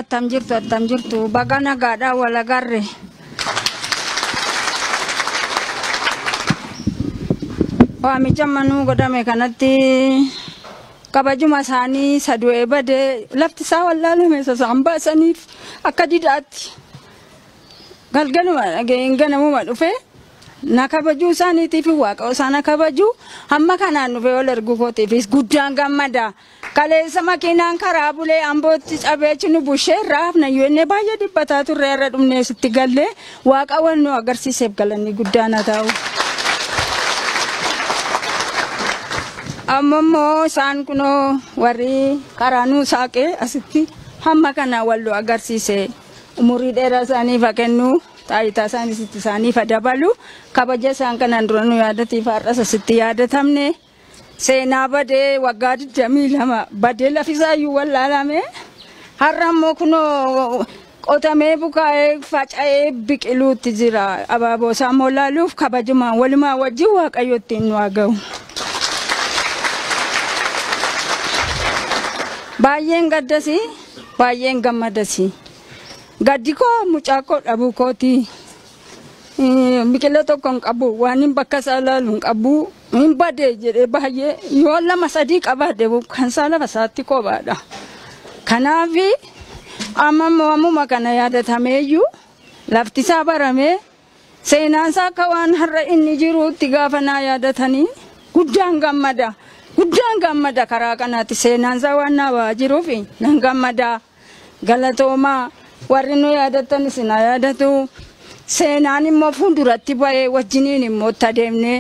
Attam jirtu attam jirtu baga nagaadhaa wal agarre. Waamicha manuu godhame kanatti kabajuma isaanii isa du'ee bade lafti isaa wallaalame isa isaan baasaniif akka didaatti galgaluma dhaga'een ganamuma dhufe na kabajuu isaaniitiif waaqa isaan kabajuu hamma kanaan dhufee wal arguu kootiifis guddaan gammada. Kaleessa makiinaan karaa bulee Ambootti cabeechi nu bushee irraa hafna UN baay'ee dhiphataa turre irra dhumnee sitti gallee waaqa waan nu agarsiiseef galanni guddaan haa ta'u. Amma immoo isaan kunoo warri karaa nu saaqee asitti hamma kana wal nu agarsiise umurii dheeraa isaaniif haa kennu taayitaa isaaniis itti isaaniif haa dabalu kabaja isaan kanaan dura nu yaadatiif har'as asitti yaadatamne. Seenaa badee waggaa 22 badee lafisaayyuu wallaalame har'a immoo kunoo qotamee bukaa'ee faca'ee biqiluutti jira. Abaaboo isaa immoo laaluuf kabajumaan walumaa wajjin waaqayyo ittiin nu haa ga'u. Baay'een gaddasi baay'een gammadasi. Gaddi koo mucaa koo dhabuu kooti. Biqila tokko hin qabu waan hin bakka isaa ilaalu hin qabu hin badee jedhee baay'ee yoo lama sadii qabaate kan isaa lafa isaatti kophaadha. Kanaaf amma mo'amuma kana yaadatameeyyuu lafti isaa baramee seenaan isaa akka waan har'a inni jiruutti gaafa naa yaadatanii guddaan gammada. Guddaan gammada karaa kanaatti seenaan isaa waan naa ba'aa jiruuf nan gammada. Galatoomaa warri nu yaadattan isin haa yaadatu. Seenaan immoo fuulduratti ba'ee wajjiniin immoo itti adeemnee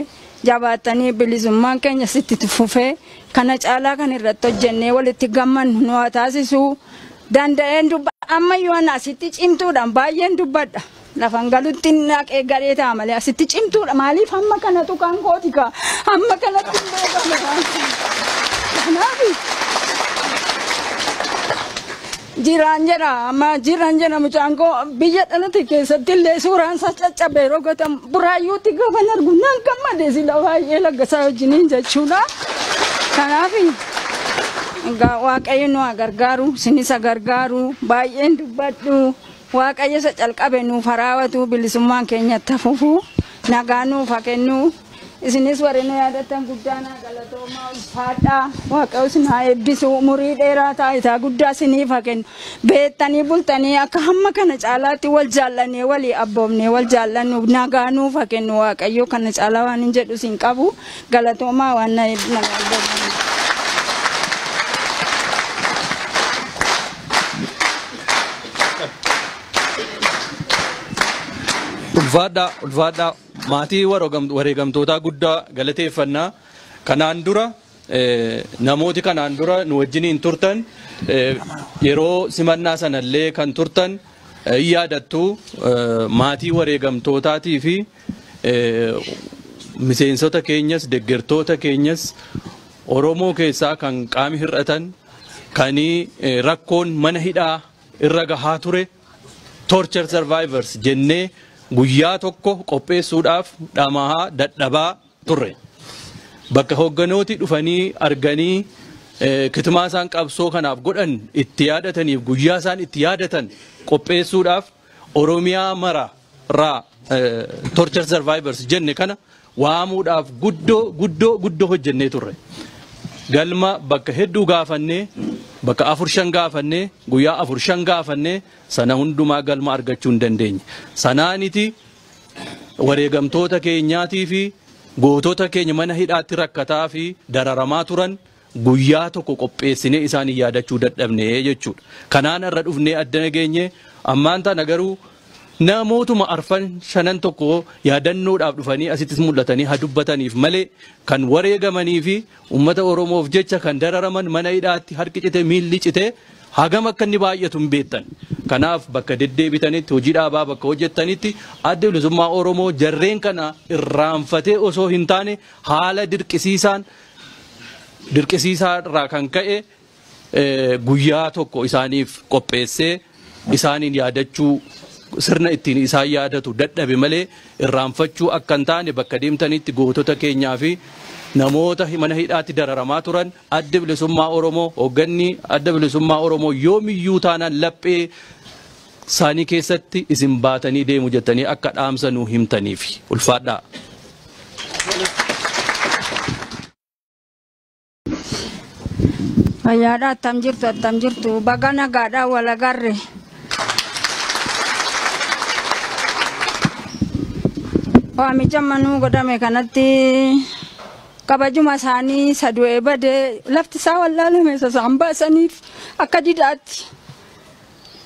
jabaattanii bilisummaan keenya sitti fufee kana caalaa kan irratti hojjennee walitti gammannu nu haa taasisu. Danda'een dubba ammayyuu ana asitti cimtuudhaan baay'een dubbadha. Lafan galutti naqee galee ta'a malee asitti cimtuudha maaliif hamma kana tuqaan kooti kaa hamma kanatti hin beekamu kanaaf jiraan jedha amma jiraan jedha mucaan koo biyya dhalate keessatti illee suuraan isaa caccabee yeroo gotan buraayyuutti gaafan argu nan gammade sila baay'ee laggasaa wajjiniin jechuudha kanaaf egaa waaqayyo nu haa gargaaru sinis haa gargaaru baay'een dubbadhu Waaqayyo isa calqabe nuuf ha raawatu bilisummaan keenya itti ha fufu nagaa nuuf ha kennu isinis warri nu yaadattan guddaa naa galatoomaa ulfaadhaa waaqayyo isin haa eebbisu umurii dheeraa taayitaa guddaa isiniif ha kennu beettanii bultanii akka hamma kana caalaatti wal jaallannee walii abboomnee wal jaallannu nagaa nuuf ha kennu waaqayyo kana caalaa waan hin jedhu isin qabu Galatoomaa waan na hedduu nama abdatan. Ulfaadhaa ulfaadhaa maatii waroogam- wareegamtootaa guddaa galateeffannaa kanaan dura eh, namooti kanaan dura nu wajjiniin turtan eh, yeroo simannaa sanallee kan turtan eh, hin yaadattu eh, maatii wareegamtootaatii fi Miseensota keenyas deggertoota keenyas Oromoo keessaa kan qaami hir'atan kan rakkoon mana hidhaa irra gahaa ture torture survivors jennee guyyaa tokko qopheessuudhaaf dhamahaa dadhabaa turre. Bakka hoogganooti dhufanii arganii kitimaa isaan qabsoo kanaaf godhan itti yaadataniif guyyaa isaan itti yaadatan qopheessuudhaaf Oromiyaa mara raa torture survivors jenne kana waamuudhaaf guddoo guddoo guddoo hojjennee turre. Galma bakka hedduu gaafannee bakka afur shan gaafannee guyyaa afur shan gaafannee sana hundumaa galma argachuu hin dandeenye. Sanaaniti wareegamtoota keenyaatii fi gootota keenya mana hidhaatti rakkataa fi dararamaa turan Guyyaa tokko qopheessinee isaan yaadachuu dadhabne jechuudha. Kanaan har'a dhufnee addana geenye ammaan tana garuu namootuma arfan shanan tokko yaadannoodhaaf dhufanii asittis mul'atanii ha dubbataniif malee kan wareegamanii fi uummata Oromoof jecha kan dararaman mana hidhaatti harki cite miilli cite hagam akka inni baay'atu hin beektan. Kanaaf bakka deddeebitanitti hojii dhaabaa bakka hojjettanitti adda bilisummaa Oromoo jarreen kana irraanfatee osoo hin taane haala dirqisiisaan dirqisiisaa irraa kan ka'e guyyaa tokko isaaniif qopheessee isaaniin yaadachuu sirna ittiin isaan yaadatu dadhabe malee irraanfachuu akka hin taane bakka deemtanitti gootota keenyaa fi namoota mana hidhaatti dararamaa turan adda bilisummaa Oromoo hoogganni adda bilisummaa Oromoo yoomiyyuu taanaan laphee saanii keessatti isin baatanii deemu jettanii akka dhaamsa nuu himtaniifi. Ulfaadhaa. Fayyaadha attam jirtu attam jirtu baga nagaadha wal agarre. Waamicha manuu godhame kanatti kabajuma isaanii isa du'ee badee lafti isaa wallaalame isa isaan baasaniif akka didaatti